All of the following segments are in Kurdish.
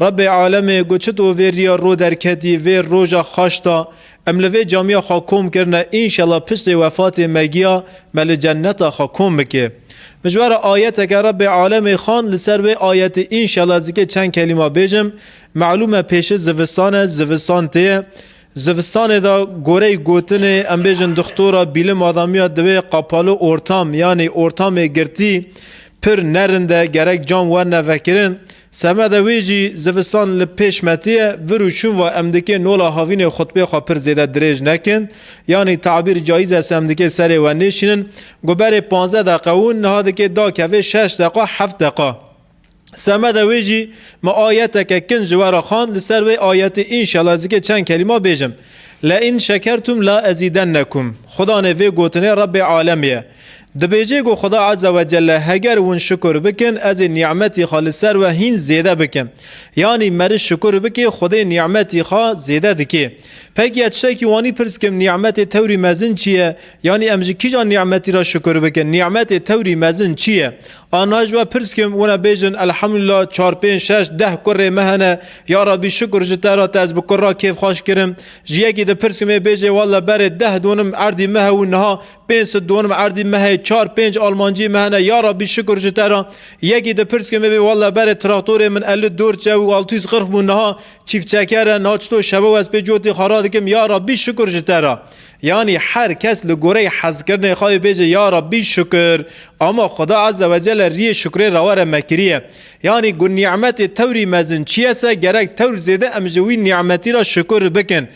Rebê alemê got çi to vê riya ro derketî vê roja xaş da em li vê camiya xwe kom kirine înşela piştê wefatê me giya me li cenneta xwe kom bike. Mijwara ayeteke Rebê alemê xand li ser wê ayetê înşela ez dikê çend kelîma bêjim Melûm e pêşit zivistan e zivistan tê ye zivistanê da gorey gotinê em bêjin dixtora bîlim adamiya divê qapalu ortam yanî ortamê girtî pir nerind e gerek cam werne vekirin Semedê wê jî zivistan li pêş metiye, vir û çûn va em dikê nola havînê xutbê xwe pir zêde dirêj nekin, yanî tabîr caiz es em dikê serê we nêşînin, ku berê panzdeh deqe û niha dikê dakeve şeş deqa heft deqa. Semedê wê jî me ayeteke kin ji we re xwend, li ser wê ayetê înşela ez dikê çend kelîma bêjim, Lein şekertum la ezîdennekum, Xuda nê vê gotinê Rebê alemê ye. Dibêje ku Xuda Eza we Celle heger hûn şukur bikin ez ê nî'metî xwe li ser we hîn zêde bikim. Yanî meriş şukur bikê Xwedê nî'metî xwe zêde dikê. Peki ez tiştekî wanî pirs kim nî'metê tewrî mezin çi ye? Yanî em ji kîjan nî'metî re şukur bikin? Nî'metê tewrî mezin çi ye? A niha ji we pirs kim wina bêjin Elhamdulillah çar pênc şeş deh kurrê me hene ya Rabbî şukur ji te re te ez bi kurra kêfxweş kirim. Ji yekî dipirs kim ê bêjê Wallah berê deh donim erdî me hebû niha Pênc sed dû ûnm erdî me heye, çar pênc almancî me hene. Ya Rabbî şikur ji te re. Yekî dipirs ke me bê walla berê traktorê min elli dor çew û altû yüz qirx bûn niha çîfçeker e. Niha çito şewe û ez pê cotê xwe radikim ya Rabbî şikur ji te re. Yanî her kes li goreyê hezkirinê xwe ê bêje ya Rabbî şikur. Ama Xuda Azze ve Celle riyê şikurê rewa re me kiriye. Yanî ku nî'metê tewrî mezin çiyese gerek tewr zêde em ji wî nî'metî re şikur bikin.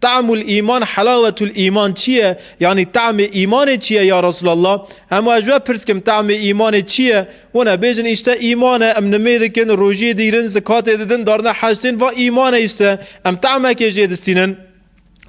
Ta'mul îman helawetul îman çi ye? Yanî ta'mê îmanê çi ye ya Resûlallah? Hemû ez ji we pirs kim, ta'mê îmanê çi ye? Wan e, bêjin îşte îman e, em nimê dikin, rojiyê dîrin, zikatê didin, darine hej tên, va îman e îşte. Em ta'mekê jê distînin.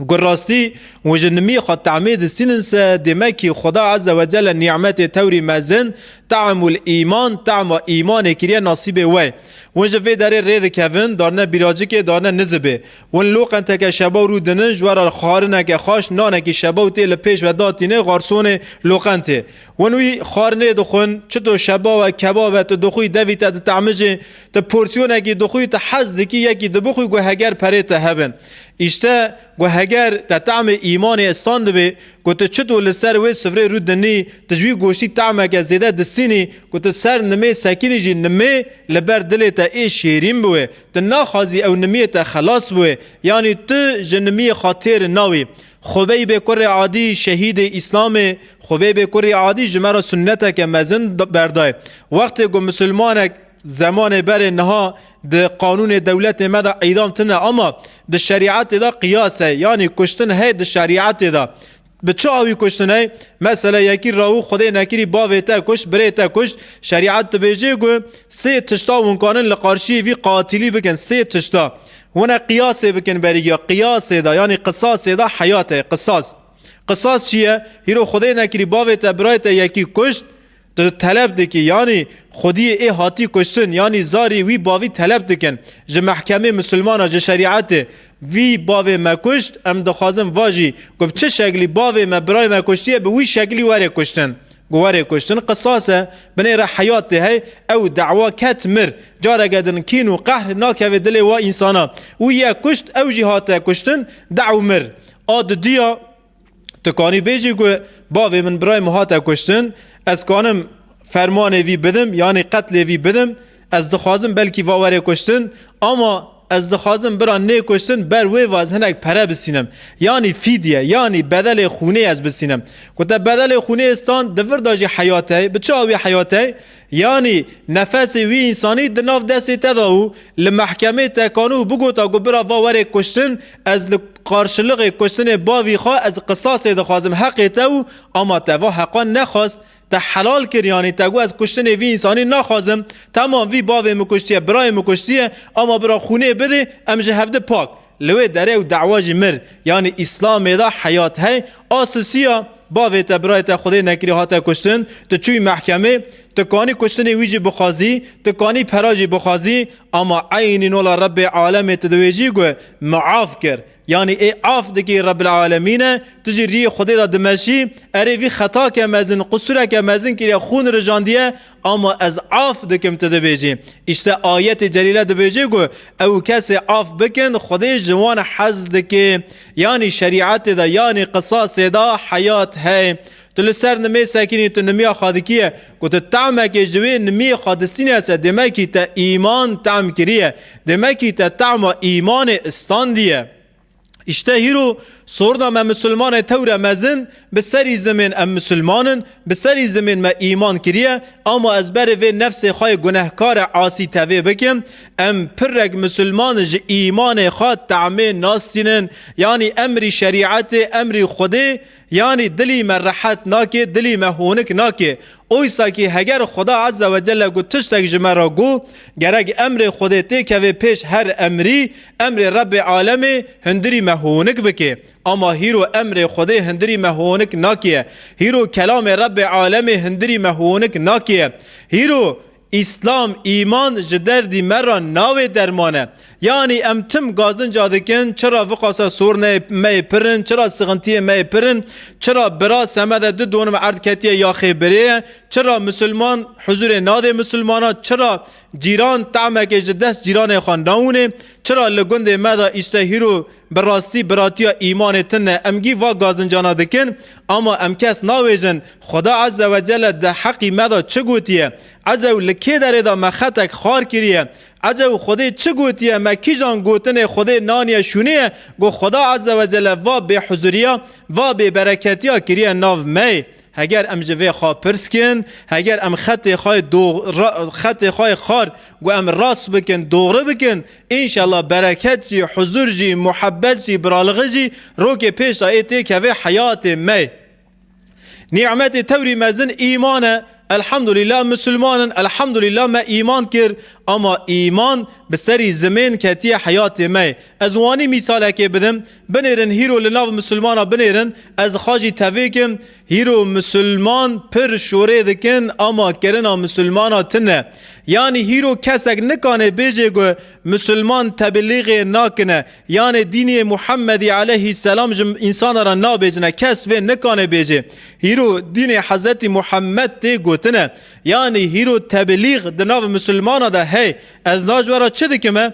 Ku rastî û ji nimiyê xwe ta'mê distînin se, demekî Xweda Eze we Celle nî'metê tewrî mezin, ta'mul îman, ta'ma îmanê kiriye nasîbê we ye. Wan ji vê derê rê dikevin, darine bîracikê, darine nizibê. Wan lo qenteke şebaw rû dinin, ji we re xwarineke xweş, nanekî şebaw tê li pêş ve datîne, garsonê lo qentê. Wan wî xwarinê dixwin, çito şebaw e, kebab e, tu dixwî, devî te ditamijê, tu porsiyonekî dixwî, tu hez dikî yekî dibixwî ku heger perê te hebe. Îşte ku heger te temê îmanê istan dibê, ku tu çito li ser wê sifrê rû dinî, tu ji wî goştî temeke zêde disînî, ku tu ser nimê sekînî jî nimê li ber dilê te ê şêrîn biwe, Tu naxwazî ew nimiyê te xelas bûê, yanî tu ji nimiyê xwe têr nawî. Xwe beybê kurê adî şehîdê Îslamê, xwe beybê kurê adî ji me re sunneteke mezin berday. Wextê ku misilmanek zemanê berê niha di qanûnê dewletê me de îdam tine ama di şerîetê de qiyas e, yanî kuştin heye di şerîetê de. Bi çi awî kuştinê? Mesele yekî rawu xwedê nekirî bavê te kuşt, birê te kuşt. Şerîet dibêje ku sê tişta hûn karin li qarşiyê vî qatilî bikin. Sê tişta. Hûne qiyasê bikin berîgiya. Qiyasê de yanî qisasê de heyat heye. Qisas. Qisas çi ye? Hîro xwedê nekirî bavê te, birayê te yekî kuşt. Tu teleb dikî yanî xwediyê ê hatî kuştin yanî zarî wî bavî teleb dikin ji mehkemê misilmana ji şerîetê vî bavê me kuşt em dixwazin vajî ku bi çi şeklî bavê me birayê me kuştiye bi wî şeklî were kuştin ku were kuştin qisas e binê re heyat tê hey ew dewa ket mir careke din kîn û qehr nakeve dilê wa însana wî ye kuşt ew jî hate kuştin dew mir a didiya Tu kanî bêjî ku bavê min birayê min hate kuştin, ez kanim fermanê vî bidim yanî qetlê vî bidim, ez dixwazim belkî va were kuştin, ama ez dixwazim bira nêkuştin ber wê va ez hinek pere bisînim, yanî fîdye yanî bedelê xûnê ez bisînim. Ku te bedelê xûnê stan di vir de jî heyat heye, bi çi awî heyat heye? Yanî nefesê wî însanî di nav destê te de û li mehkemê tekano û bigota ku bira va were kuştin, ez li qarşiliqê kuştinê bavî xwe ez qisasê dixwazim heqê te û ama te va heqan nexwest, te helal kir yanî te got ez kuştinê vî însanî naxwazim, temam vî bavê min kuştiye, birayê min kuştiye ama bira xûnê bidê em ji hevdi pak. Li wê derê û dawa jî mir, yanî Îslamê de heyat hey a sisiya, bavê te, birayê te xwedê nekirî hate kuştin, tu çûyî mehkemê, tu kanî kuştinê wî jî bixwazî, tu kanî pera jî bixwazî, ama eynî nola Rebbê alemê tu di wê jî gu miaf kir, yanî ê af dikî Rebbil alemîne, tu jî rîyê xwedê de dimeşî, erê vî xetake mezin, qusûreke mezin kiriye, xûn rijandiye, Ama ez af dikim tu dibêjî. Îşte ayetê celîle dibêje ku ew kesê af bikin Xwedê ji wan hez dike. Yanî şerîetê de yanî qisasê de heyat heye. Tu li ser nimê sekinî tu nimiya xwedikîye ku tu temekê ji wê nimiyê xwedistînese demekî te îman tem kiriye. Demekî te tema îmanê istandiye. İşte hîro sorna me misilmanê tewre mezin, bi serî zimên em misilman in, bi serî zimên me îman kiriye, ama ez berê vê nefsê xwe yê gunehkare asî tevê bikim. Em pirrek misilman ji îmanê xwe temê nastînin, yanî emrî şerîetê, emrî Xwedê, Yanî dilî me rehet nake, dilî me honik nake. Oysa kî heger Xuda Ezze ve Celle ku tiştek ji me re got, gerek emrê Xwedê tê keve pêş her emrî, emrê Rebbê alemê hundirî me honik bike. Ama hîro emrê Xwedê hundirî me honik nake. Hîro kelamê Rebbê alemê hundirî me honik nake. Hîro Îslam, îman, ji derdî me re navê derman e. Yanî em tim gazinca dikin, çira viqasa sorneyê me yê pir in, çira sixintiyê me yê pir in, çira bira semede du donim erd ketiye yaxê birê ye, çira misilman huzurê nadê misilmana, çira cîran tamekê ji dest cîranê xwe nawinê, çira li gundê me de îştehîro Bi rastî biratiya îmanê tin e. Em gî va gazincana dikin, ama em kes navêjin. Xweda Eze we Celle di heqî me de çi gotiye? Eze û li kê derê de me xetek xar kiriye? Eze û Xwedê çi gotiye? Me kîjan gotinê Xwedê naniye şûniye ku Xweda Eze we Celle va bêhuzuriya, va bêbereketiya kiriye nav me? Heger em ji vê xwe pirs kin, heger em xetê xwe xetê xwe yê xar ku em rast bikin dogri bikin, înşela bereket jî, huzur jî, muhebbet jî, biralixî jî rokê pêşa ê tê keve heyatê me. Nî'metê tewrî mezin îman e. Elhamdulîla em misilman in, elhamdulîla me îman kir. Ama îman bi serî zimên ketiye heyatê me. Ez wanî mîsalekê bidim. Binêrin hîro li nav misilmana binêrin ez xacî tevêk im hîro misilman pir şorê dikin ama kirina misilmana tine yanî hîro kesek nikanê bêjê ku misilman tebilîxê nakine yanê dîniyê muhemedî eleyhî selam ji însanan re nabêjine kes vê nikanê bêjê hîro dînê hezetî muhemed tê gotine yanî hîro tebilîx di nav misilmana de hey ez naj vera çi dikime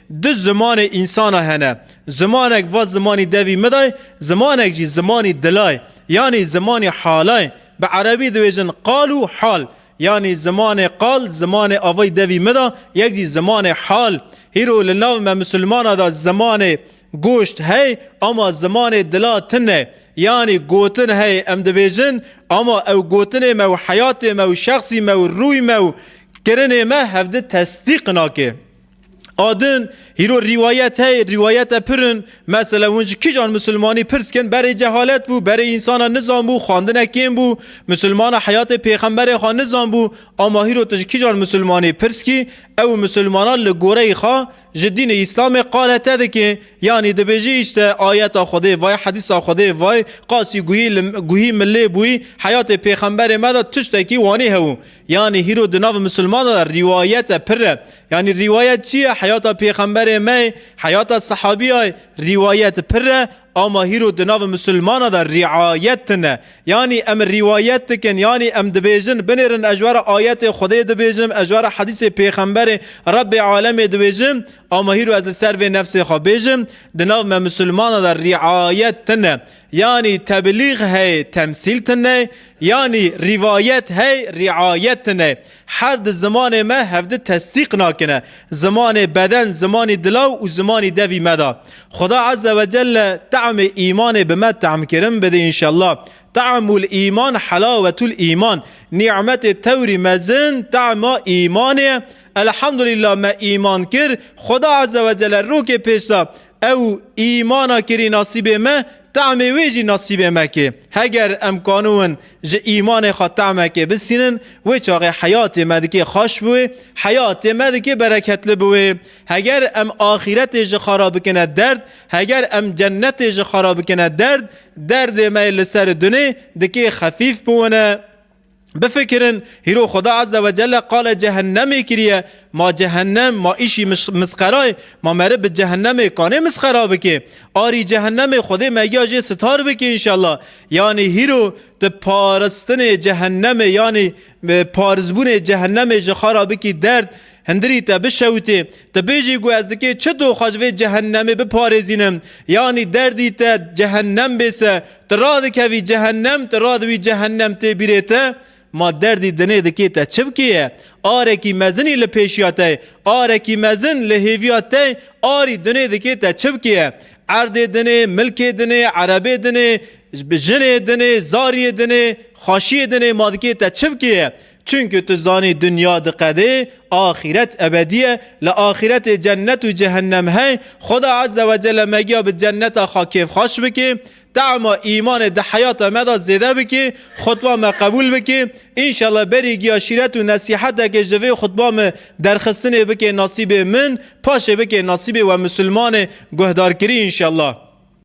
Du zimanê însana hene. Zimanek va zimanî devî midayê, zimanek jî zimanî dilayê, yanî zimanî halayê. Bi erebî diwêjin qal û hal. Yanî zimanê qal zimanê avayî devî mida, yek jî zimanê hal. Hîro li nav me misilmana de zimanê goşt hey ama zimanê dila tune. Yanî gotin hey em dibêjin ama ew gotinê me û heyatê me û şexsî me û rûy me û kirinê me hevdi tesdîq nake. Adin hîro rîwayet hey, rîwayete pir in. Mesele hûn ji kîjan misilmanî pirs kin berê cehalet bû, berê însanan nizanbû, xwandine kêm bû, misilmana heyatê pêxemberê xwe nizanbû. Ama hîro tu ji kîjan misilmanî pirs kî, ew misilmanan li goreyî xwe ji dînê îslamê qale te dike. Yanî dibêjî îşte ayeta Xwedê vay, hedîsa Xwedê vay, qasî guhî milê bûyî, heyatê pêxemberê me de tiştekî wanî hew. Yanî hîro di nav misilmanan de rîwayet e, pir e. Yanî rîwayet çi ye? Heyata pêxemberê me ye, heyata sehabîya ye. Rîwayet pir e, ama hîro di nav misilmanan de rîayet tune. Yanî em rîwayet dikin, yanî em dibêjin, binêrin ez ji we re ayetê Xwedê dibêjim, ez ji we re hedîsê pêxemberê Rebbê alemê dibêjim, ama hîro ez li ser vê nefsê xwe bêjim, di nav me misilmanan de rîayet tune. Yanî tebilîg hey temsîl tune, yanî rîvayet hey rîayet tune. Her di zimanê me hevdi tesdîq nakine. Zimanê beden, zimanî dilaw û zimanî devî me da. Xuda Eze ve Celle te'mê îmanê bi me te'mkirin bide înşellah. Te'mul îman helawetul îman. Nî'metê tewrî mezin te'ma îmanê ye. Elhamdulillah me îman kir. Xuda Eze ve Celle rokê pêş da. Ew îmana kirî nasîbê me, temê wê jî nasîbê me kê. Heger em kanûn ji îmanê xwe temekê bisînin, wê çaxê heyatê me dikê xweş bi wê, heyatê me dikê bereketli bi wê. Heger em axîretê ji xwe re bikine derd, heger em cenetê ji xwe re bikine derd, derdê me li ser dunê dikê xefîf bi wine. Bifikirin, hîro Xweda Azze ve Celle qale cehennemê kiriye, ma cehennem, ma îşî misqera ye, ma meriv bi cehennemê kanê misqera bike? Arî cehennemê Xwedê megiya jê sitar bike înşella. Yanî hîro tu paristinê cehennemê yanî parizbûnê cehennemê ji xwe ra bikî derd, hindirî te bişewitê, tu bêjî ku ez dikê çi doxa ji vê cehennemê biparêzînim, yanî derdî te cehennem bê se Tu radikevî cehennem, tu radiwî cehennem tê bîrê te, ma derdî dinê dikê te çi bikê ye? Arekî mezinî li pêşiya te ye, arekî mezin li hêviya te ye, arî dinê dikê te çi bikê ye? Erdê dinê, milkê dinê, erebê dinê, jinê dinê, zariyê dinê, xweşiyê dinê ma dikê te çi bikê ye? Çunku tu zanî dinya diqedê, axîret ebedî ye, li axîretê cennet û cehennem hey, Xweda Ezze Wecelle megiya bi cenneta xwe kêfxaş bikê, tema îmanê di heyata me de zêde bikê, xutba me qebûl bikê, înşallah berî giya şîret û nesîhetekê ji vê xutba me derxistinê bikê nasîbê min, paşê bikê nasîbê we misilmanê guhdarkirî înşallah.